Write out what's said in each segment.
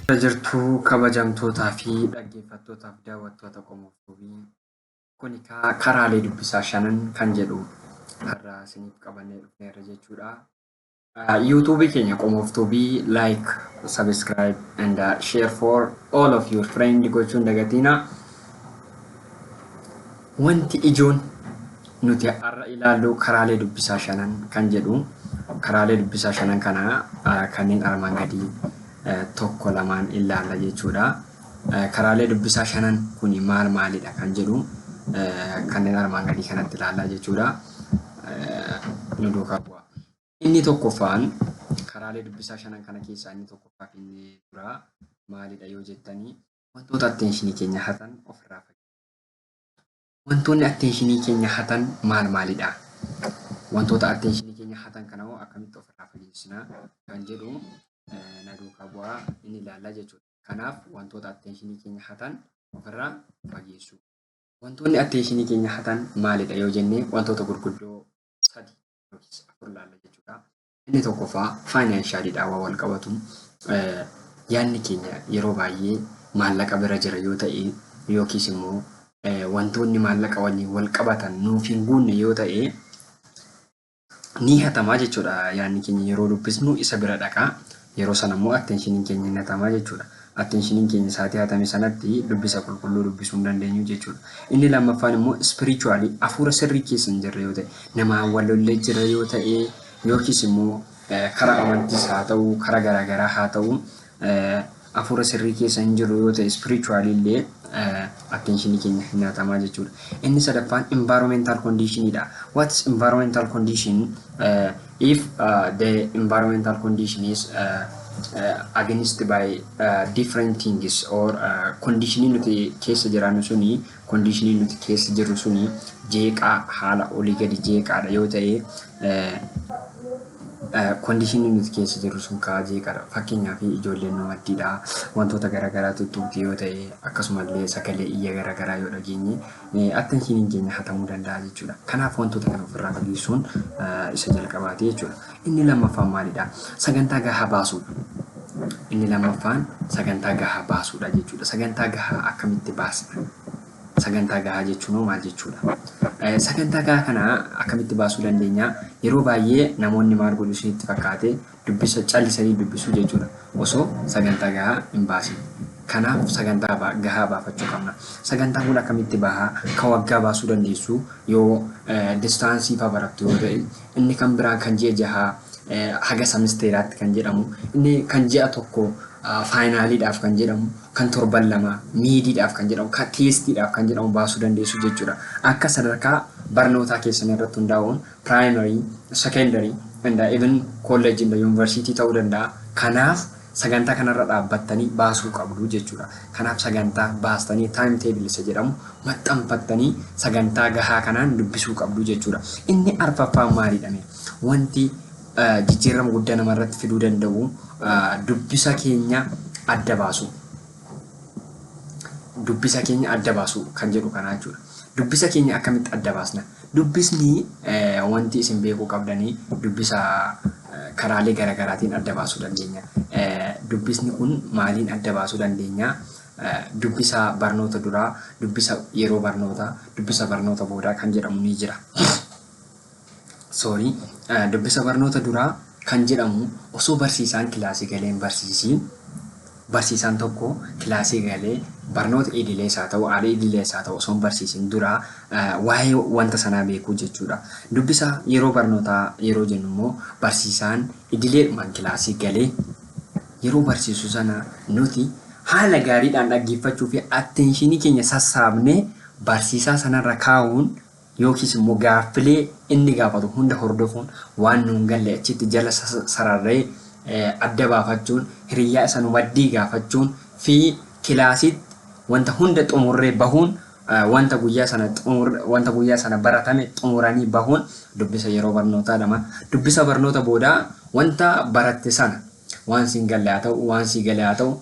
Akkam jirtu kabajamtootaa fi dhaggeeffattootaa fi daawwattoota Qomoo Tube. Kun egaa karaalee dubbisaa shanan kan jedhu har'a isiniif qabannee dhufneerra jechuudha. Yuutuubii keenya Qomoo Tube like, subscribe and uh, share for all of your friend gochuun dagatiina. Wanti ijoon nuti har'a ilaallu karaalee dubbisaa shanan kan jedhu karaalee dubbisaa shanan kana kanneen armaan gadii tokko lamaan ilaalla jechuudha. Karaalee dubbisaa shanan kuni maal maalidha kan jedhu kanneen armaan gadii kanatti ilaalla jechuudha. Nu duukaa bu'aa. Inni tokkoffaan karaalee dubbisaa shanan kana keessaa inni tokkoffaa fi inni duraa maalidha yoo jettanii wantoota atteenshinii keenya hatan ofirraa fayyadamu. Wantoonni atteenshinii keenya hatan maal maalidha? Wantoota atteenshinii keenya hatan kana hoo akkamitti ofirraa fageessina kan jedhu na duukaa bu'aa inni ilaallaa jechuudha. Kanaaf wantoota atteenshinii keenya hatan ofirraa fageessuu. Wantoonni atteenshinii keenya hatan maalidha yoo jennee wantoota gurguddoo sadi yookiis afur ilaalla jechuudha. Inni tokkoffaa faayinaanshaaliidhaa waan wal qabatu yaadni keenya yeroo baay'ee maallaqa bira jira yoo ta'e yookiis immoo wantoonni maallaqa waliin wal qabatan nuuf hin guunne yoo ta'e ni hatamaa jechuudha yaadni keenya yeroo dubbisnu isa bira dhaqaa. Yeroo sana immoo attention-iin keenya hin hatama jechuudha. Attention-iin keenya saatii hatame sanatti dubbisa qulqulluu dubbisuu hin dandeenyu jechuudha. Inni lammaffaan immoo spiritually hafuura sirrii keessa hin jirre yoo ta'e, namaan wal lollee jirra yoo ta'e, yookiis immoo karaa amantiis haa ta'u, karaa garaa garaa haa ta'u, hafuura sirrii keessa hin jirru yoo ta'e spiritually illee attention-ii keenya hin hatama jechuudha. Inni sadaffaan environmental condition dha. What is environmental condition? If the environmental condition is against by different things or conditionii nuti keessa jiraannu suni conditionii nuti keessa jirru suni jeeqaa haala olii gadi jeeqaadha yoo ta'e conditionii nuti keessa jirru sun kaa jeeqaadha fakkeenyaaf ijoolleen nu maddiidha wantoota garaagaraa tuttuqti yoo ta'e akkasumallee sagalee iyya garaagaraa yoo dhageenye attention hin jenne hatamuu danda'a jechuudha. Kanaaf wantoota kana ofirraa fageessuun isa jalqabaati jechuudha. Inni lammaffaan maalidha? Sagantaa gahaa baasuudha. Inni lammaffaan sagantaa gahaa baasuudha jechuudha. Sagantaa gahaa akkamitti baasna? Sagantaa gahaa jechuun hoo maal jechuudha? Sagantaa gahaa kana akkamitti baasuu dandeenya? Yeroo baay'ee namoonni maal godhu isinitti fakkaate? Dubbisa callisanii dubbisuu jechuudha osoo sagantaa gahaa hin baasin. Kanaaf sagantaa gahaa baafachuu qabna. Sagantaa kun akkamitti baha? Ka waggaa baasuu dandeessu yoo distaansii faa barattu yoo ta'e, inni kan biraan kan ji'a jahaa haga samisteeraatti kan jedhamu, inni kan ji'a tokko faayinaaliidhaaf kan jedhamu, kan torban lamaa miidiidhaaf kan jedhamu, kan teestiidhaaf kan jedhamu baasuu dandeessu jechuudha. Akka sadarkaa barnootaa keessanii irratti hundaa'uun primary, secondary and even college in the university ta'uu danda'a. Kanaaf sagantaa kanarra dhaabbattanii baasuu qabdu jechuudha. Kanaaf sagantaa baastanii time table isa jedhamu maxxanfattanii sagantaa gahaa kanaan dubbisuu qabdu jechuudha. Inni arfaffaan maalidha? Wanti jijjiirama guddaa namarratti fiduu danda'u dubbisa keenya adda baasuu. Dubbisa keenya adda baasuu kan jedhu kanaa jechuudha. Dubbisa keenya akkamitti adda baasna? Dubbisni wanti isin beekuu qabdanii dubbisa karaalee garagaraatiin adda baasuu dandeenya. Dubbisni kun maaliin adda baasuu dandeenya? Dubbisa barnoota duraa, dubbisa yeroo barnootaa, dubbisa barnoota boodaa kan jedhamu ni jira. Sorry. Dubbisa barnoota duraa kan jedhamu osoo barsiisaan kilaasii galee hin barsiisiin barsiisaan tokko kilaasii galee barnoota idilees haa ta'u al idilees haa ta'u osoo hin barsiisiin dura waa'ee wanta sanaa beekuu jechuudha. Dubbisa yeroo barnootaa yeroo jennu immoo barsiisaan idileedhumaan kilaasii galee yeroo barsiisu sana nuti haala gaariidhaan dhaggeeffachuu fi atteenshinii keenya sassaabnee barsiisaa sanarra kaa'uun yookiis immoo gaaffilee inni gaafatu hunda hordofuun waan nuun galle achitti jala sararree adda baafachuun hiriyyaa isa nu maddii gaafachuun fi kilaasiitti wanta hunda xumurree bahuun wanta guyyaa sana wanta guyyaa sana baratame xumuranii bahuun dubbisa yeroo barnootaa dhama. Dubbisa barnoota boodaa wanta baratte sana waan siin galle haa ta'u waan sii gale haa ta'u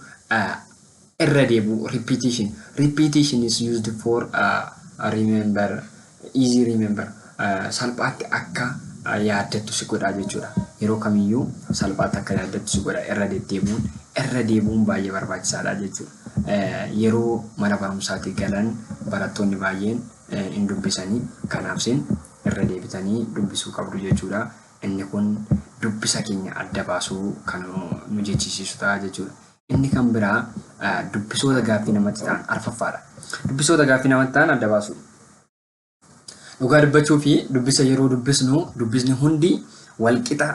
Irra deebi'uu, repetition, Repetition is used for remember, easy remember, salphaatti akka yaaddattu si godha jechuudha. Yeroo kamiyyuu salphaatti akka yaaddattu si godha irra deddeebi'uun. Irra deebi'uun baay'ee barbaachisaadha jechuudha. Yeroo mana barumsaatii galan barattoonni baay'een hin dubbisanii kanaaf isin irra deebitanii dubbisuu qabdu jechuudha. Inni kun dubbisa keenya adda baasuu kan nu jechisiisu ta'a jechuudha. Inni kan biraa dubbisoota gaaffii namatti ta'an arfaffaadha. Dubbisoota gaaffii namatti ta'an adda baasuu. Dhugaa dubbachuu fi dubbisa yeroo dubbisnu dubbisni hundi walqixa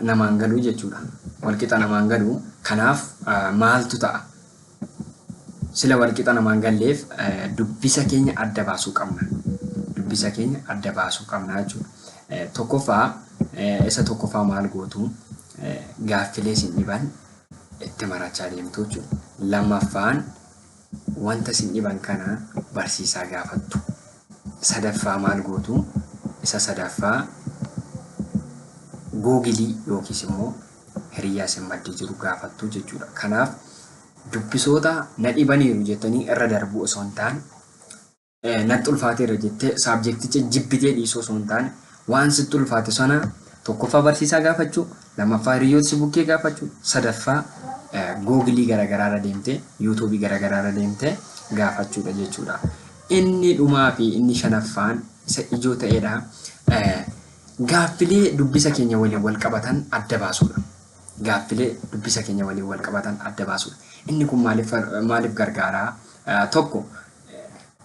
namaan galuu jechuudha. Walqixa namaan galuu kanaaf maaltu ta'a? Sila walqixa namaa hin galleef dubbisa keenya adda baasuu qabna. Dubbisa keenya adda baasuu qabna jechuudha. Tokkoffaa isa tokkoffaa maal gootu gaaffilee isin dhiban itti marachaa deemtu jechuudha. Lammaffaan wanta isin dhiban kana barsiisaa gaafattu. Sadaffaa maal gootu isa sadaffaa googilii yookiis immoo hiriyyaa isin maddii jiru gaafattu jechuudha. Kanaaf dubbisoota na dhibaniiru jettanii irra darbuu osoo hin taane natti ulfaateera jettee saabjekticha jibbitee dhiisuu osoo hin taane waan sitti ulfaate sana tokkoffaa barsiisaa gaafachuu lammaffaa hiriyyoota si bukkee gaafachuu sadaffaa googilii garaagaraarra deemtee yuutuubii garaagaraarra deemtee gaafachuudha jechuudha. Inni dhumaa fi inni shanaffaan isa ijoo ta'edha. Gaaffilee dubbisa keenya waliin wal qabatan adda baasuudha. Gaaffilee dubbisa keenya waliin wal qabatan adda baasuudha. Inni kun maaliif maaliif gargaara? Tokko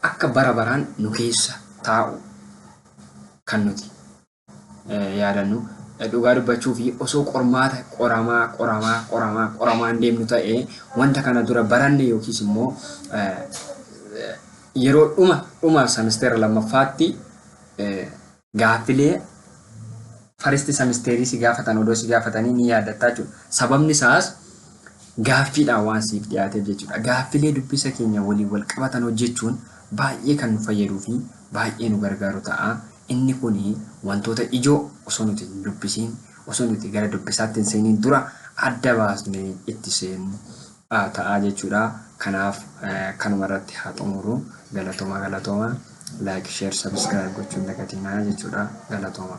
akka bara baraan nu keessa taa'u kan nuti yaadannu dhugaa dubbachuu fi osoo qormaata qoramaa qoramaa qoramaa qoramaan deemnu ta'e wanta kana dura baranne yookiis immoo yeroo dhuma dhuma semisteera lammaffaatti Gaaffilee faristi samisteerii si gaafatan odoo si gaafatanii ni yaadattaa jechuudha. Sababni isaas gaaffiidhaan waan siif dhiyaateef jechuudha. Gaaffilee dubbisa keenya waliin wal qabatan hojjechuun baay'ee kan nu fayyaduu fi baay'ee nu gargaaru ta'a. Inni kun wantoota ijoo osoo nuti hin dubbisiin osoo nuti gara dubbisaatti hin seeniin dura adda baasnee itti seennu ta'a jechuudha. Kanaaf kanuma irratti haa xumuru. Galatoma galatoma. Like, share, subscribe gochuu hin dagatinaa jechuudha. Galatoma.